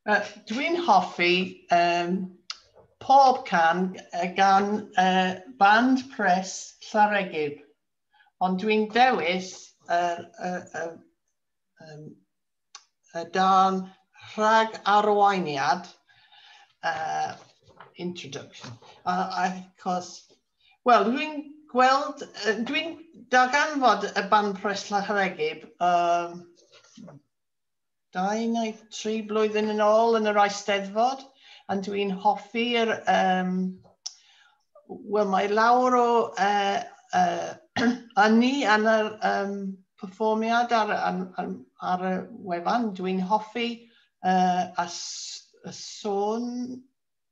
Uh, Dwi'n hoffi um, pob can uh, gan uh, band pres Llaregib, ond dwi'n dewis y uh, uh, uh, um, uh, dan rhag arweiniad uh, introduction, uh, achos Wel, dwi'n gweld, dwi'n darganfod y ban pres Llaharegib um, dau neu tri blwyddyn yn ôl yn yr Eisteddfod, a dwi'n hoffi'r, um, wel mae lawr o uh, uh, ynni yn yr um, perfformiad ar, ar, ar, ar y wefan, dwi'n hoffi uh, a, a sôn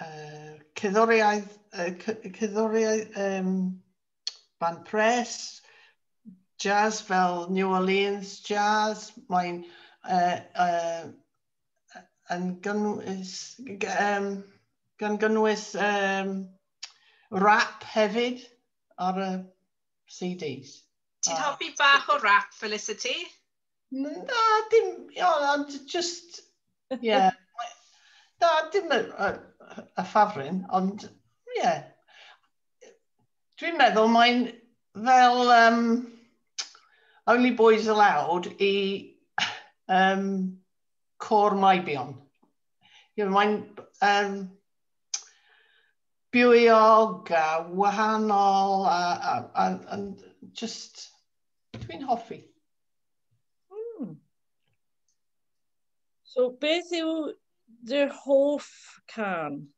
uh, cyddoriaeth, uh, cyddoriaeth um, band pres, jazz fel New Orleans jazz, mae'n uh, uh, yn gynnwys, um, gan gynnwys um, rap hefyd ar y CDs. Ti'n hoffi bach o rap, Felicity? Na, dim, ia, ond just, ie. Na, dim y, y, y ffafrin, ond, ie. Dwi'n meddwl mae'n fel um, Only Boys Allowed i um, Cor Maibion. You know, mae'n um, bywog a wahanol a, a, a, a just, dwi'n hoffi. Hmm. So beth yw dy hoff can?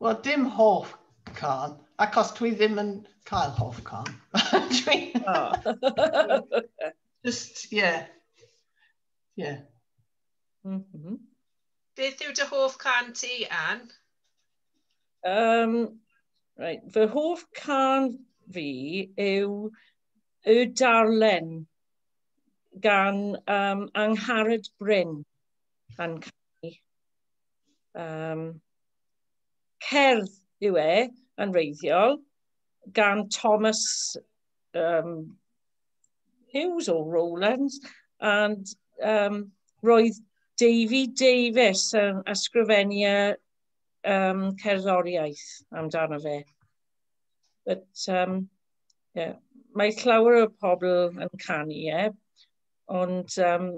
Wel, dim hoff can, achos dwi ddim yn cael hoff can. dwi... oh. Just, yeah. Yeah. Mm -hmm. Beth yw dy hoff can ti, Anne? Um, right, fy hoff can fi yw y darllen gan um, Angharad Bryn yn cael um, cerdd yw e yn reiddiol gan Thomas um, Hughes o Rowlands and um, roedd Davy Davies yn ysgrifennu um, cerddoriaeth amdano fe. But, um, Ie. Mae llawer o pobl yn canu e, ond yym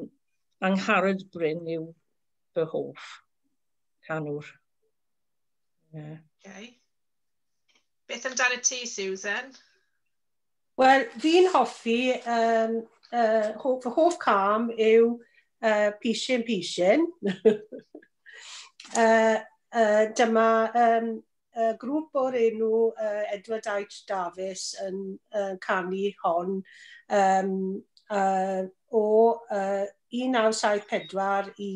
Angharad Bryn yw fy hoff canwr. Ie. Okay. Beth amdano ti, Susan? Wel, fi'n hoffi, um, uh, hoff, fy hoff cam yw uh, Pishin Pishin. uh, uh, dyma um, y grŵp o'r enw uh, Edward H. Davies yn uh, canu hon um, uh, o uh, 1974 i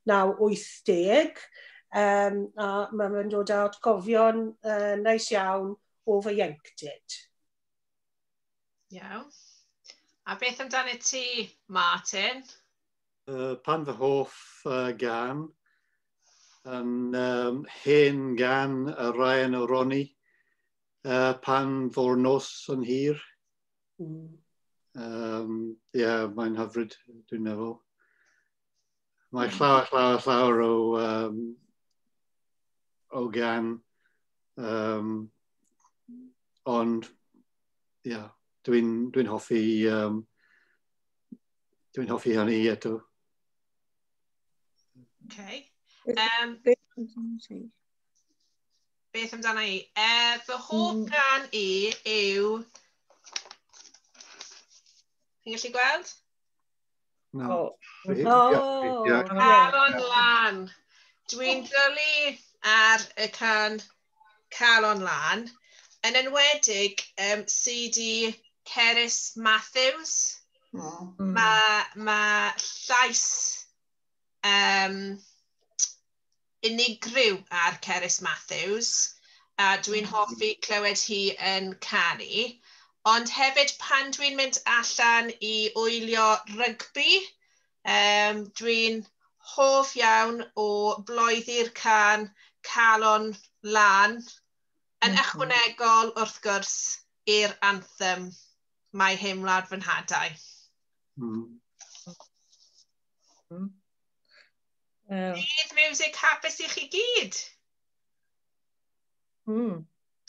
1980 um, a mae fe'n dod â atgofion uh, nais iawn o fy ieuenctid. Iawn. A beth amdano ti, Martin? Uh, pan fy hoff uh, gan yn um, hen gan y Ryan o Roni uh, pan fo'r nos yn hir. Mm. Um, yeah, mae'n hyfryd, dwi'n meddwl. Mae mm. llawer, llawer, llawer o, um, o gan, um, ond yeah, dwi'n dwi hoffi, um, dwi'n hoffi hynny eto. Okay. Um, beth amdana i? Uh, fy hoff mm. gan i yw... Chi'n gallu gweld? No. Oh. Calon lan. Dwi'n dylu ar y can cael o'n lan, yn enwedig um, CD Cerys Matthews. Mm. Mae ma llais um, unigryw ar Cerys Matthews, a dwi'n mm. hoffi clywed hi yn canu. Ond hefyd pan dwi'n mynd allan i wylio rygbi, Yym, dwi'n hoff iawn o bloeddu'r cân 'Calon Lân', yn ychwanegol, wrth gwrs, i'r anthem 'Mae Hen Wlad Fy Nhadau'. Dydd Miwsig hapus i chi gyd!